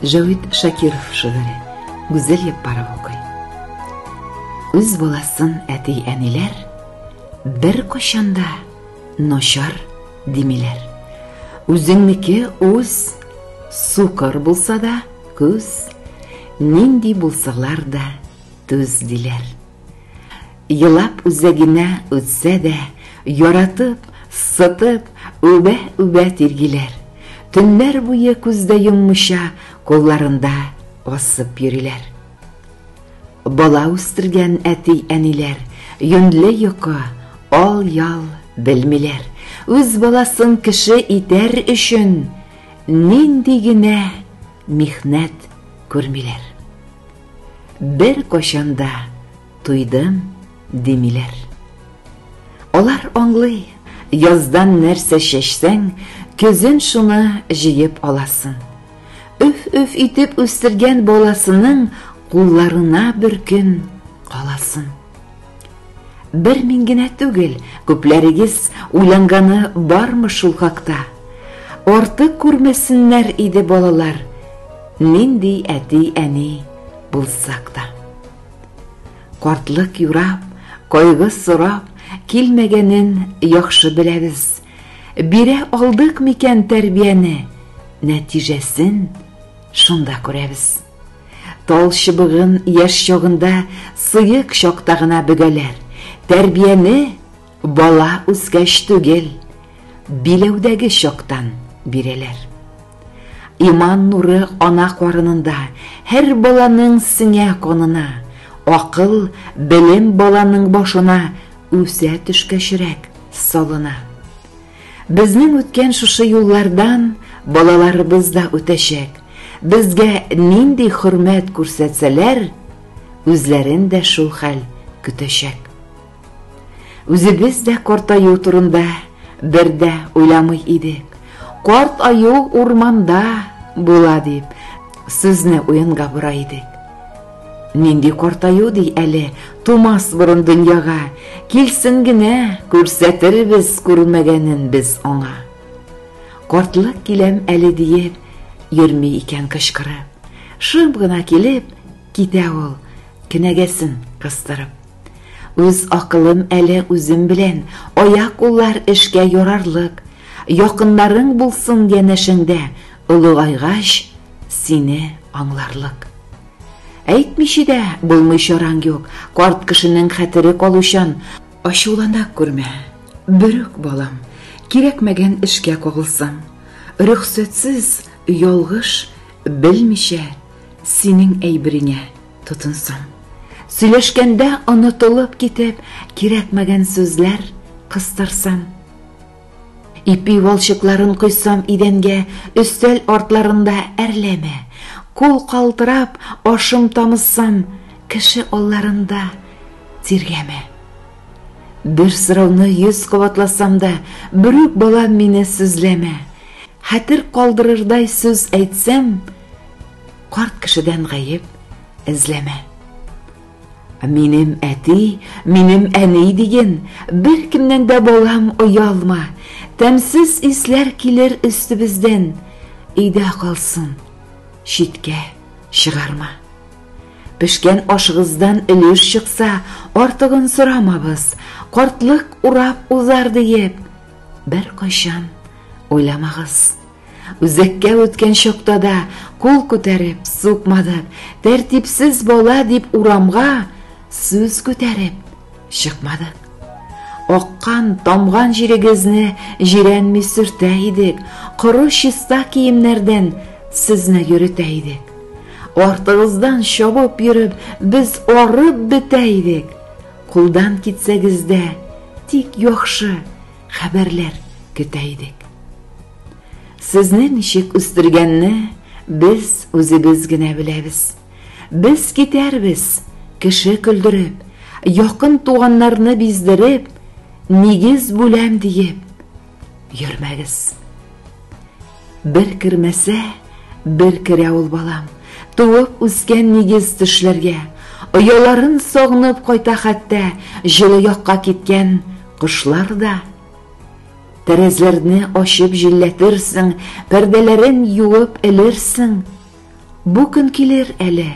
Җәвит Шакиров шигыре Гүзәл Яппаров укый. Үз баласын әти-әниләр бер кочанда Начар димиләр. Үзеңнеке үз, сукыр булса да күз, нинди булсалар да түз диләр. Елап үзәгенә үтсә дә, яратып, сытып, үбә-үбә тиргиләр. Төннәр буе күздә йоммыша, кулларында асып йөриләр. Бала үстергән әти-әниләр Юньле йокы, ал-ял белмиләр. Үз баласын кеше итәр өчен Нинди генә михнәт күрмиләр. Беркайчан да туйдым димиләр. Алар аңлый, яздан нәрсә чәчсәң, Көзен шуны җыеп аласың. Өф-өф итеп үстергән баласының кулларына бер көн каласын. Бер мин генә түгел, күпләрегез уйланганы бармы шул хакта? Артык күрмәсеннәр иде балалар, нинди әти-әни булсак та. Картлык юрап, кайгы сорап килмәгәнен яхшы беләбез, Бирә алдык микән тәрбияне, нәтиҗәсен шунда күрәбез. Тал чыбыгын яшь чагында сыек чакта гына бөгәләр, тәрбияне бала үскәч түгел, биләүдәге чактан бирәләр. Иман нуры ана карынында, һәр баланың сеңә канына, акыл, белем баланың башына үсә төшкәчрәк салына. Безнең үткән шушы юллардан балаларыбыз да үтәчәк. Безгә нинди хөрмәт күрсәтсәләр, үзләрен дә шул хәл көтәчәк. Үзебез дә картаю турында бер дә уйламый идек. Карт аю урманда була дип, сүзне уенга бора идек. Нинди картаю ди әле Тумас борын дөньяга, килсен генә күрсәтербез күрмәгәнен без аңа. Картлык киләм әле диеп, йөрми икән кычкырып. Шым гына килеп, Китә ул, кенәгәсен кыстырып. Үз акылым әле үзем белән, аяк-куллар эшкә ярарлык, якыннарың булсын янәшеңдә, олыгайгач, сине аңларлык. Әйтмичә дә булмый чараң юк, карт кешенең хәтере калучан, ачулана күрмә, берүк балам, кирәкмәгән эшкә кагылсаң, рөхсәтсез, ялгыш, белмичә Синең әйбереңә тотынсам. Сөйләшкәндә онытылып китеп, кирәкмәгән сүзләр кыстырсам. Ипи валчыкларын койсам идәнгә, өстәл артларында әрләмә. Кул калтырап, ашым тамызсам, кеше алларында тиргәмә. Бер сорауны йөз кабатласам да, Берүк балам мине сүзләмә. Хәтер калдырырдай сүз әйтсәм, Карт кешедән гаеп эзләмә. Минем әти, минем әни диген, Беркемнән дә балам оялма. Тәмсез исләр килер өстебездән, Өйдә калсын, читкә чыгарма. Пешкән ашыгыздан өлеш чыкса, артыгын сорамабыз, картлык урап узар диеп, беркайчан уйламагыз. Үзәккә үткән чакта да кул күтәреп, сукмадып, тәртипсез бала дип урамга Сүз күтәреп чыкмады. Аккан, тамган җирегезне җирәнми сөртә идек, коры чиста киемнәрдән сезне йөрөтә идек. Артыгыздан чабып йөреп, без арып бетә идек. Кулдан китсәгез дә, тик яхшы хәбәрләр көтә идек. Сезне ничек үстергәнне без үзебез генә беләбез. Без китәрбез, кеше көлдереп, Якын туганнарны биздереп, Нигез бүләм диеп, йөрмәгез. Бер кермәсә, бер керә ул балам, Туып үскән нигез төшләргә, Ояларын сагынып кайта хәтта, Җылы якка киткән кошлар да. Тәрәзләрне ачып җилләтерсең, Пәрдәләрен юып элерсең, Бу көн килер әле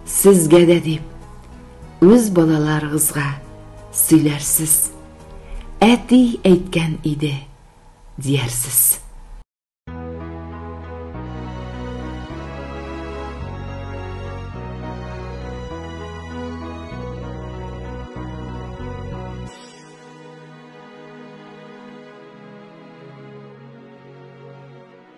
сезгә дә дип, үз балаларыгызга сөйләрсез. Әти әйткән иде, диярсез.